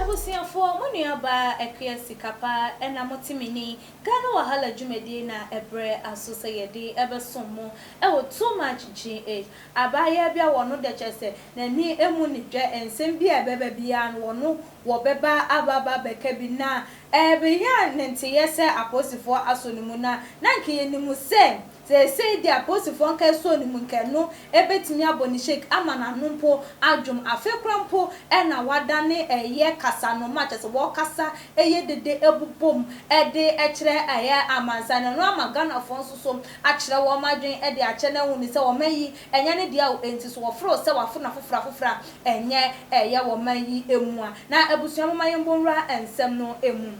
Abusuafoɔ, mo nuabaa Akua Sikapa na mote me ni. Ghana Wahala dwumadie na ɛberɛ aso sɛ yɛde bɛsom mo wɔ Too Much GH. Abaayewa bi a wɔno dɛ kyerɛ sɛ n'ani mmu ne dwɛ nsɛm bi a ɛbɛba biara no wɔno wɔ bɛba aba aba bɛka bi na ɛbenya ne nteyɛ sɛ apolisifoɔ asɔ ne mu na na nka yɛnim sɛ seesei deɛ apolisifoɔ nka ɛsɔɔ ne mu nka ɛno ɛbɛtumi abɔ ne shake ama n'ano mpo adwom afei koraa mpo na wadane ɛyɛ kasanoma a kyerɛ sɛ wɔkasa ɛyɛ dede ɛbobom ɛde ɛkyerɛ ɛyɛ amansan na ɛno ama Ghanafoɔ nso so akyerɛ wɔn adwene de akyɛ no ahu no sɛ wɔn ayi ɛnyɛ ne dea o, enti so wɔforo sɛ wɔaforo no afoforo afoforo a, ɛnyɛ ɛyɛ wɔn ayi mua. Na abusua momma yɛmbɔ nwura nsɛm no mu.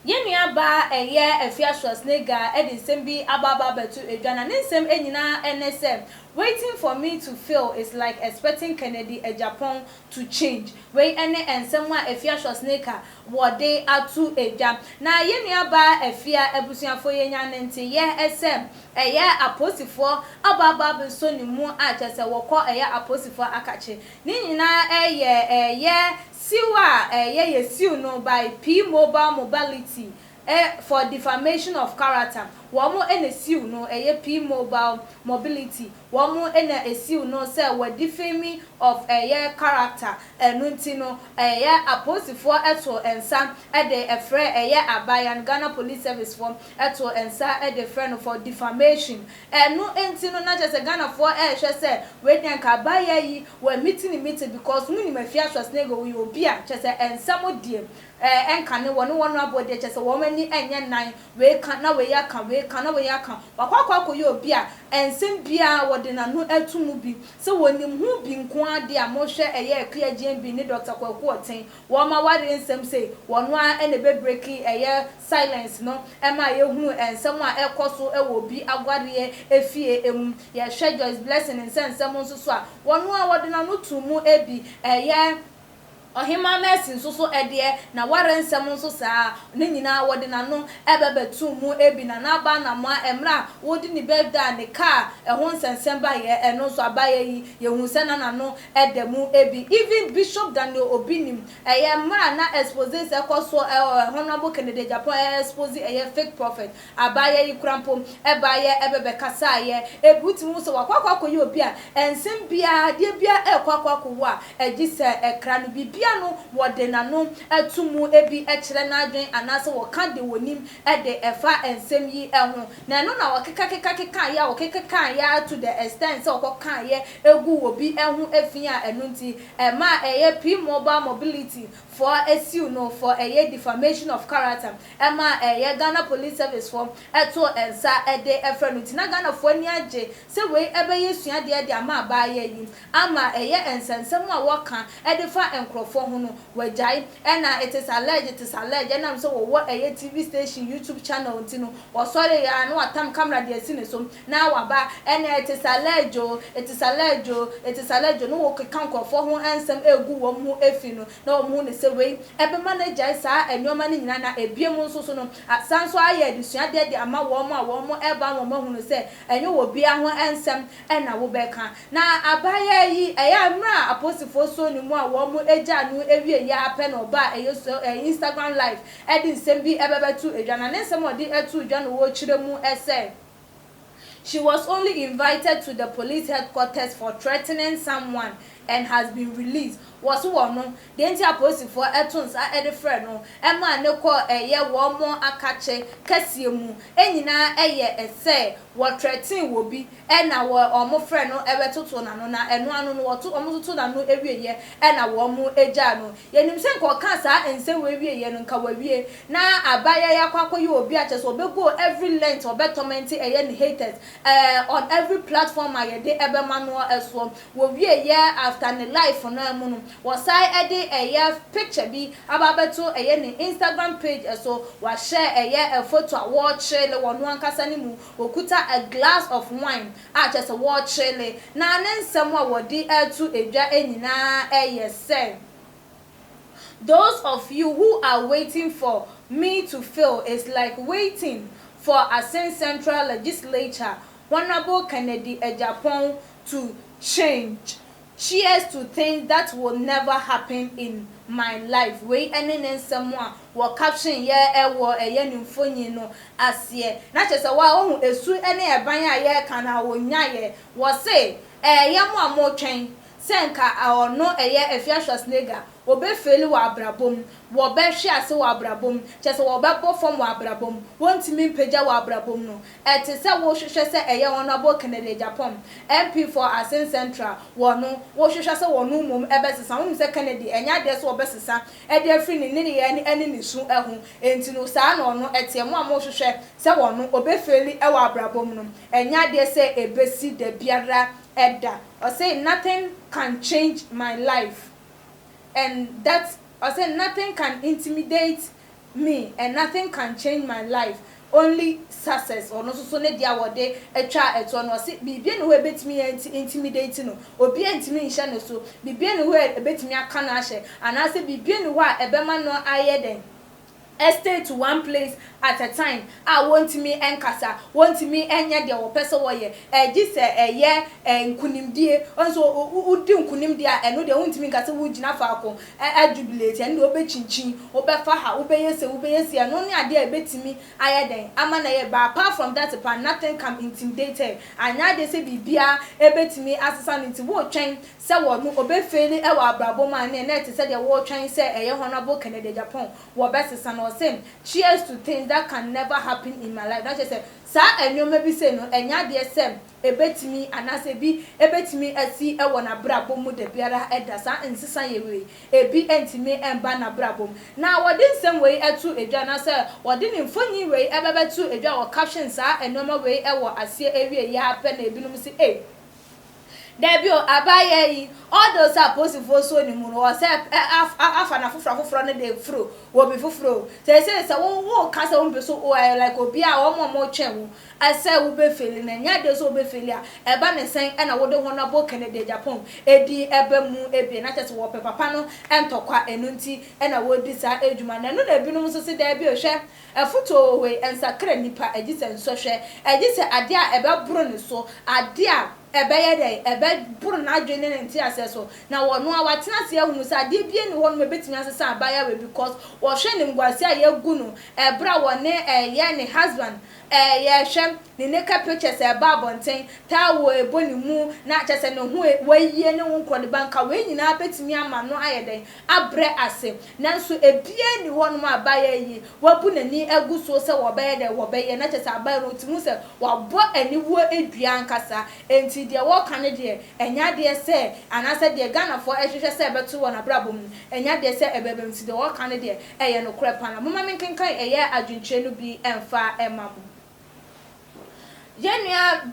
Yɛn nuabaa a ɛyɛ Afia Schwarzenegger de nsɛm bi aba aba abɛto dwa na ne nsɛm nyinaa ne sɛ, Waiting for me to fail is like expecting Kennedy agyapong to change. Wei ne nsɛm a Afia Schwarzenegger, wɔde ato dwa. Na yɛn nuabaa Afia abusuafoɔ yɛnya no nte yɛ sɛ ɛyɛ apolisifoɔ ababaa bi nso ne mu a kyerɛ sɛ wɔkɔ ɛyɛ apolisifoɔ akakye. Ne nyinaa ɛyɛ ɛyɛ siw a ɛyɛ yɛ siw no by P-Mobile Mobility E for defamation of character wɔn na siw no ɛyɛ P mobile mobility wɔn na esiw no sɛ wɔ defame of ɛyɛ character ɛno nti no ɛyɛ apolisifoɔ to nsa de frɛ ɛyɛ abayan Ghana police service foɔ to nsa de frɛ no for defamation ɛno nti no na kyerɛ sɛ Ghanafoɔ rehwɛ sɛ wei deɛ nka abayaa yi wɔ miti ne miti because mo nim Afia Schwarzenegger ɔyɛ obi a kyerɛ sɛ nsɛm deɛ Ɛɛ, ɛnka ne wɔne wɔn aboa deɛ kyerɛ sɛ wɔn ani nyɛ nnan, wei ka na wei aka, wei ka na wei aka. Wakɔ akɔ akɔyɛ obi a nsɛm biara wɔde n'ano ato mu bi sɛ wɔnim ho bi nko ara deɛ a monhwɛ ɛyɛ Akua Gyambi ne Dɔkta Kwaku Ɔten wɔn ma awareɛ nsɛm sei wɔn ara na ɛbɛ break ɛyɛ silence no ɛma yɛhunu nsɛm a ɛrekɔ so wɔ obi awareɛ efie mu. Yɛhwɛ Joyce Blessing nsɛnsɛm nso so a wɔn ara wɔde n'ano too mu ɛbi ɛyɛ Ɔhemmaa Mercy nso so ɛdeɛ, n'awareɛ nsɛm nso saa ara, ne nyinaa wɔde n'ano bɛbɛtoo mu, ebi na n'aba anamoa mmerɛ a wɔredi ne birthday a ne car ɛho nsɛnsɛm baeɛ, ɛno nso abaeɛ yi yɛhunu sɛ na n'ano da mu, ebi even Bishop Daniel Obi nim, ɛyɛ mmerɛ a na exposés ɛrekɔ soɔ wɔ Honourable Kennedy Agyapong ɛrɛ expose ɛyɛ fake prophet. Abaayɛ yi kora mpo, ɛbaeɛ ɛbɛbɛkasaeɛ. Ebi wo tumi hu sɛ wakɔ akɔ akɔyɛ obi a ɛnsen biara adeɛ biara ɛrekɔ akɔ akɔwu a ɛgye sɛ ɛkra no biribi ano, wɔde n'ano to mu, ebi kyerɛ n'adwene anaasɛ wɔka deɛ wɔnim de ɛfa nsɛm yi ho. Na ɛno na wɔkekakekakekaaeɛ a wɔkekakaaeɛ ara to the extent sɛ wɔkɔkaaeɛ guu obi ho fi a ɛno nti ɛmaa ɛyɛ P-Mobile Mobility fɔ ɛsiw no fɔ ɛyɛ defamation of character ɛma ɛyɛ Ghana police service fɔ ɛto nsa ɛde ɛfrɛ no nti na Ghana fɔ ani agye sɛ wei ɛbɛyɛ suadeɛ de ama abaayewa yi ama ɛyɛ nsɛnsɛm a wɔka ɛde fa nkorɔfoɔ ho no wagyae ɛna it is alleged it is alleged ɛnam sɛ wɔwɔ ɛyɛ TV station YouTube channel nti no wɔsɔreeɛ ara na watam camera de asi ne so na waba ɛnɛ ɛte salɛɛgyo o, ɛte salɛɛgyo o, ɛte salɛɛgyo na ɔkeka nkorɔfoɔ ho nsɛm ɛregu wɔn ho fi no, na wɔn hu no sɛ wei ɛbɛma no agyae saa nnoɔma no nyinaa, na ɛbiom nso so no asan nso ayɛ adesuadeɛ de ama wɔn a wɔn ɛreba no wɔn ahunu sɛ ɛnyɛ obiara ho nsɛm na wobɛka. Na abaayaa yi ɛyɛ a mmerɛ a aposifoɔ sɔɔ ne mu a wɔn gyaa no awieɛ ara pɛ na ɔbaa ɛyɛ so ɛɛ Instagram live ɛde nsɛm bi ɛbɛbɛto dwa, na ne nsɛm a ɔde too dwa no ɔkyerɛ mu sɛ, She was only invited to the police headquarters for threatening someone and has been released. Wɔse wɔ no, deɛ nti a polisifoɔ to nsa de frɛɛ no maa no kɔɔ ɛyɛ wɔn akakye kɛseɛ mu nyinaa yɛ sɛ wɔ threaten wɔ bi na wɔ wɔn frɛ no bɛtoto n'ano na ɛno ano no wɔto wɔn toto n'ano wieɛ na wɔn gyaa no. Yɛnim sɛ nka ɔkaa saa nsɛm wei wieɛ no nka wawie. Na abayɛ yi akɔ akɔyɛ obi a kyerɛ sɛ ɔbɛ go every length ɔbɛ tɔmɛnte ɛyɛ ne haters ɛɛ on every platform a yɛde ɛbɛma noɔ ɛsoɔ. Wɔ wie yɛ after ne life no mu no wɔ san ɛde ɛyɛ picture bi aba abɛto ɛyɛ ne Instagram page ɛso. Wahyɛ ɛyɛ photo a wɔɔkyele wɔn ankasa no mu, ɔkuta a glass of wine a kyerɛ sɛ wɔɔkyele. Na ne nsɛm a wɔde ɛɛto ɛdwa nyinaa ɛyɛ sɛ. Those of you who are waiting for me to fail is like waiting for Asin Central Legislature Honourable Kennedy Agyapong to change chairs to things that will never happen in my life Wei ne ne nsɛm a wɔ caption yɛ wɔ ɛyɛ ne mfonyin no aseɛ na kyerɛ sɛ woa wohu esu ne ɛban a yɛreka no a ɔnyaeɛ Wɔse, Ɛɛyɛ mo a motwɛn Sɛ nka ɔno ɛyɛ Afia Schwarzenegger, ɔbɛ faili wɔ abrabɔ mu, wɔ bɛ hwe ase wɔ abrabɔ mu, kyɛsɛ wɔ bɛ bɔ fam wɔ abrabɔ mu, wɔ ntumi mpagya wɔ abrabɔ mu no. Ɛte sɛ wo hwehwɛ sɛ ɛyɛ Honourable Kennedy Agyapong, MP for Asin Central, wɔ no, wo hwehwɛ sɛ wɔ no mmom ɛbɛ sesa, wo nim sɛ Kennedy ɛnyɛ adeɛ sɛ ɔbɛ sesa ɛde afiri ne nneyɛɛ ɛne ne su ɛho, ɛnti no saa na ɔno ɛteɛ, mo a mo hwehwɛ sɛ wɔ no ɔbɛ faili ɛwɔ abrabɔ mu no, ɛnyɛ adeɛ sɛ ɛbɛ si dabiara ɛda. Ɔse nothing can change my life and that ɔse nothing can intimidate me and nothing can change my life only success ɔno nso so ne deɛ a wɔde twaa ɛtoɔ no ɔse biribiara nni hɔ a ɛbɛtumi a intimidate no obiara ntumi nhyɛ no so biribiara nni hɔ a ɛbɛtumi aka no ahyɛ anaasɛ biribiara nni hɔ a ɛbɛma no ayɛ dɛn a stay to one place at a time a wɔntumi nkasa, wɔntumi nyɛ deɛ wɔpɛ sɛ wɔyɛ gye sɛ ɛyɛ nkunimdie, nso wodi nkunim deɛ a ɛno deɛ wontumi nka sɛ wogyina faako ajubilate, ɛno deɛ wobɛkyinkyin, wobɛfa ha, wobɛyɛ sei, wobɛyɛ sei, ɛno ne adeɛ a ɛbɛtumi ayɛ dɛn ama no ayɛ, but apart from that paa nothing can intimidate her, anyɛ adeɛ sɛ biribiara bɛtumi asesa no nti woretwɛn sɛ wɔ no ɔbɛfei no wɔ abrabɔ mu a ɛneɛ na ɛte sɛ deɛ wɔretwɛn sɛ ɛyɛ Honourable Kennedy Agyapong wɔbɛsesa no ɔsem cheers to things that can never happen in my life na kyerɛ sɛ saa nnoɔma bi sei no ɛnyɛ adeɛ sɛ ɛbɛtumi anaasɛ ɛbi ɛbɛtumi asi wɔ nabrabɔ mu dabiara da saa nsesayɛ wei ɛbi ntumi mba nabrabɔ mu na wɔde nsɛm wei to dwa anaasɛ wɔde ne mfonin wei bɛbɛto dwa wɔ caption saa nnoɔma wei wɔ aseɛ awieɛ ara pɛ na ɛbinom se ei Dabi o, abayɛ yi, although sɛ aposifoɔ suo ne mu no, wɔ sɛ ɛ, af, a, afa no afoforɔ afoforɔ no de foro wɔ obi foforɔ o. Seesei sɛ wo, wo reka sɛ wo mpɛ sɛ o, ɛyɛ like obi a wɔn a wɔn twɛn wo ɛ, sɛ wo bɛ feli no, ɛnyɛ adeɛ sɛ wo bɛ feli a, ɛba ne sɛn ɛna wo de wɔn abɔ Kennedy Agyapong edin ɛba mu ebien, na kyerɛ sɛ wɔpɛ papa no ntɔkwa, ɛno nti ɛna wɔredi saa adwuma no, ɛno na ebinom nso se dabi o, hwɛ. Afotu a ɔwɔ hɔ yi nsakra nnipa, egye sɛ nsɔhwɛ, egye sɛ ade a ɛbɛboro ne so, ade a ɛbɛyɛ dɛn, ɛbɛboro n'adwene ne ne nteaseɛ so, na ɔno ara watena ase ahunu sɛ adeɛ biara nni hɔnom a ɛbɛtumi asesa abaayewa yi because ɔhwɛ animguaseɛ a yɛagu no ɛberɛ a ɔne ɛyɛ ne husband ɛyɛ hwɛ ne naked pictures a ɛba abɔnten, towel a ɛbɔ ne mu, na kyerɛ sɛ ne ho wayie ne wo nkorɔdeba nka wei nyinaa bɛtumi ama no ayɛ dɛn? abrɛ ase. Nanso ebiaa nni hɔnom a bayer yi wabu n'ani agu so sɛ wɔbɛyɛ dɛ wɔbɛyɛ, na kyerɛ sɛ abayer no tse mu sɛ wɔabɔ aniwuo dua ankasa. Enti deɛ wɔreka no deɛ, ɛnyɛ adeɛ sɛ, anaasɛ deɛ Ghanafoɔ rehwehwɛ sɛ ɛbɛto wɔn abrabɔ mu no, ɛnyɛ adeɛ sɛ ɛbɛba mu. Nti deɛ wɔreka no deɛ, ɛyɛ nokorɛ pa ara. Momma menkenkan ɛyɛ adwenkyerɛ no bi mfa mma mo. Yɛn nua.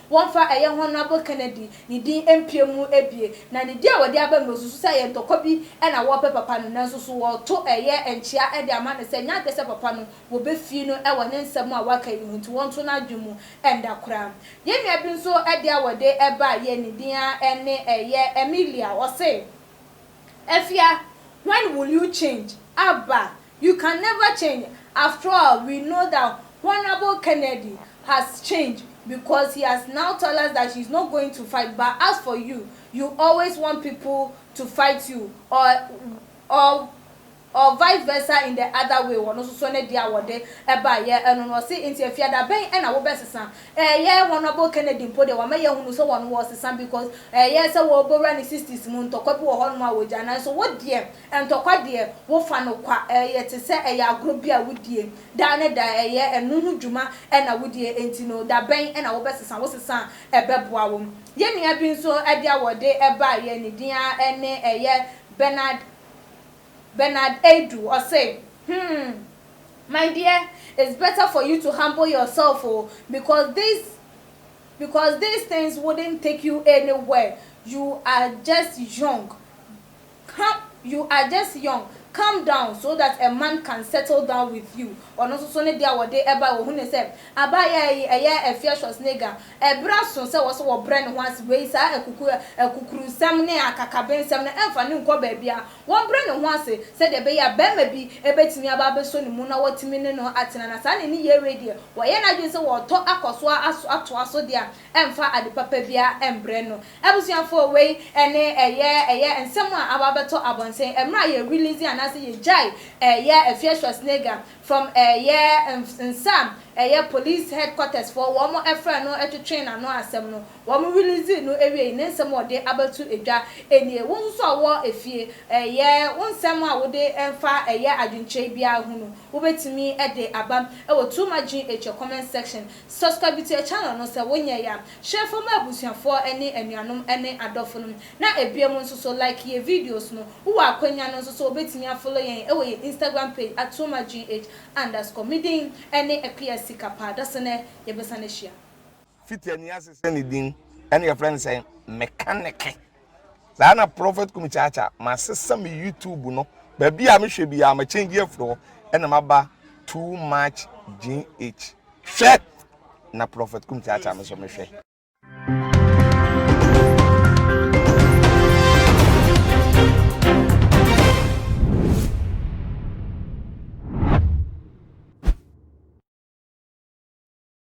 Wɔmfa ɛyɛ Honourable Kennedy ne din mpia mu abien, na ne din a wɔde aba no na osusu sɛ ɛyɛ ntɔkwa bi na wɔrepɛ papa no, nanso so wɔreto ɛyɛ nkyea de ama no sɛ ɛnyɛ adwene sɛ papa no wɔbefii no wɔ ne nsɛm a waka yi ho nti wɔnto no adwene mu nda koraa. Yɛn nua bi nso de a wɔde baa yɛn ne din ara ne ɛyɛ Emilia, ɔse, Afia, when will you change? Abba. You can never change after all we know that Honourable Kennedy has changed because he has now tell us that he is not going to fight but as for you, you always want people to fight you or or or vice versa in the other way wɔno nso so ne deɛ a wɔde ɛba yɛ ɛno no ɔse nti afiada bɛn ɛna wobɛ sesa ɛɛyɛ Honourable Kennedy mpo deɛ wama yɛahunu sɛ wɔno wɔsesa because ɛɛyɛ sɛ wɔɔbɔwura ne sixties mu ntɔkwa bi wɔ hɔ nom a wɔgya nanso wo deɛ Ntɔkwa deɛ, wofa no kwa, ɛyɛ te sɛ ɛyɛ agorɔ bi a wodie daa ne da, ɛyɛ ɛno ho dwuma na wodie, enti no da bɛn na wobɛsesa, wo sesa a ɛbɛboa wo. Yɛn nua bi nso ɛdeɛ a wɔde baeɛ ne din ara ne ɛyɛ Bernard Bernard Adu, ɔse, hmm, my dear, it's better for you to humble yourself o, because this because these things wouldn't take you anywhere, you are just young, Come you are just young calm down so that a man can settle down with you ɔno nso so ne deɛ a wɔde bae wɔhu ne sɛ abaayaa yi ɛyɛ a fiercious nigga ɛberɛ aso sɛ wɔse wɔbrɛ ne ho ase wei saa akuku akukurusɛm ne akakabensɛm no ɛmfa no nkɔ baabiara wɔmbrɛ ne ho ase sɛdeɛ ɛbɛyɛ a barima bi bɛtumi aba abɛsɔ ne mu na watumi ne no atena na saa ne nneyɛɛ wei deɛ wɔyɛ n'adwene sɛ wɔretɔ akɔso aso atoa so deɛ a ɛmfa ade papa biara mbrɛ no Abusuafoɔ wei ne ɛyɛ ɛyɛ nsɛm a aba abɛtɔ abɔnten ɛmerɛ a yɛ release anaasɛ yɛ gyae ɛyɛ Afia Schwarzenegger from ɛyɛ nsa a ɛyɛ police headquarters foɔ wɔn frɛ no twetwee n'ano asɛm no wɔn release no awie yi ne nsɛm a ɔde abɛto dwa nie Wo nso so a wɔ efie ɛyɛ wo nsɛm a wode mfa ɛyɛ adwenkyerɛ biara ho no wobɛtumi de aba wɔ Too Much GH comment section Subscribe to yɛ channel no sɛ wo nyɛe a, share fa ma abusuafoɔ ne anuanom ne adɔfo nom, na ebiom nso so like yɛ videos no, wo wɔ akwanya no nso so wobɛtumi a follow yɛn wɔ yɛ Instagram page atuoma-gh underscore, me din ne Akuya Sika paa, dasene yɛbɛsane ahyia. Fiti ani ase sɛ ne din ɛna yɛfrɛ no sɛ mekaneke. saa na prɔfɛt kum kyaakya masesa me youtube no baabi a mehwɛ bi a makyɛngye afiri hɔ ɛna maba too much gh hwɛ na prɔfɛt kum kyaakya me so mehwɛ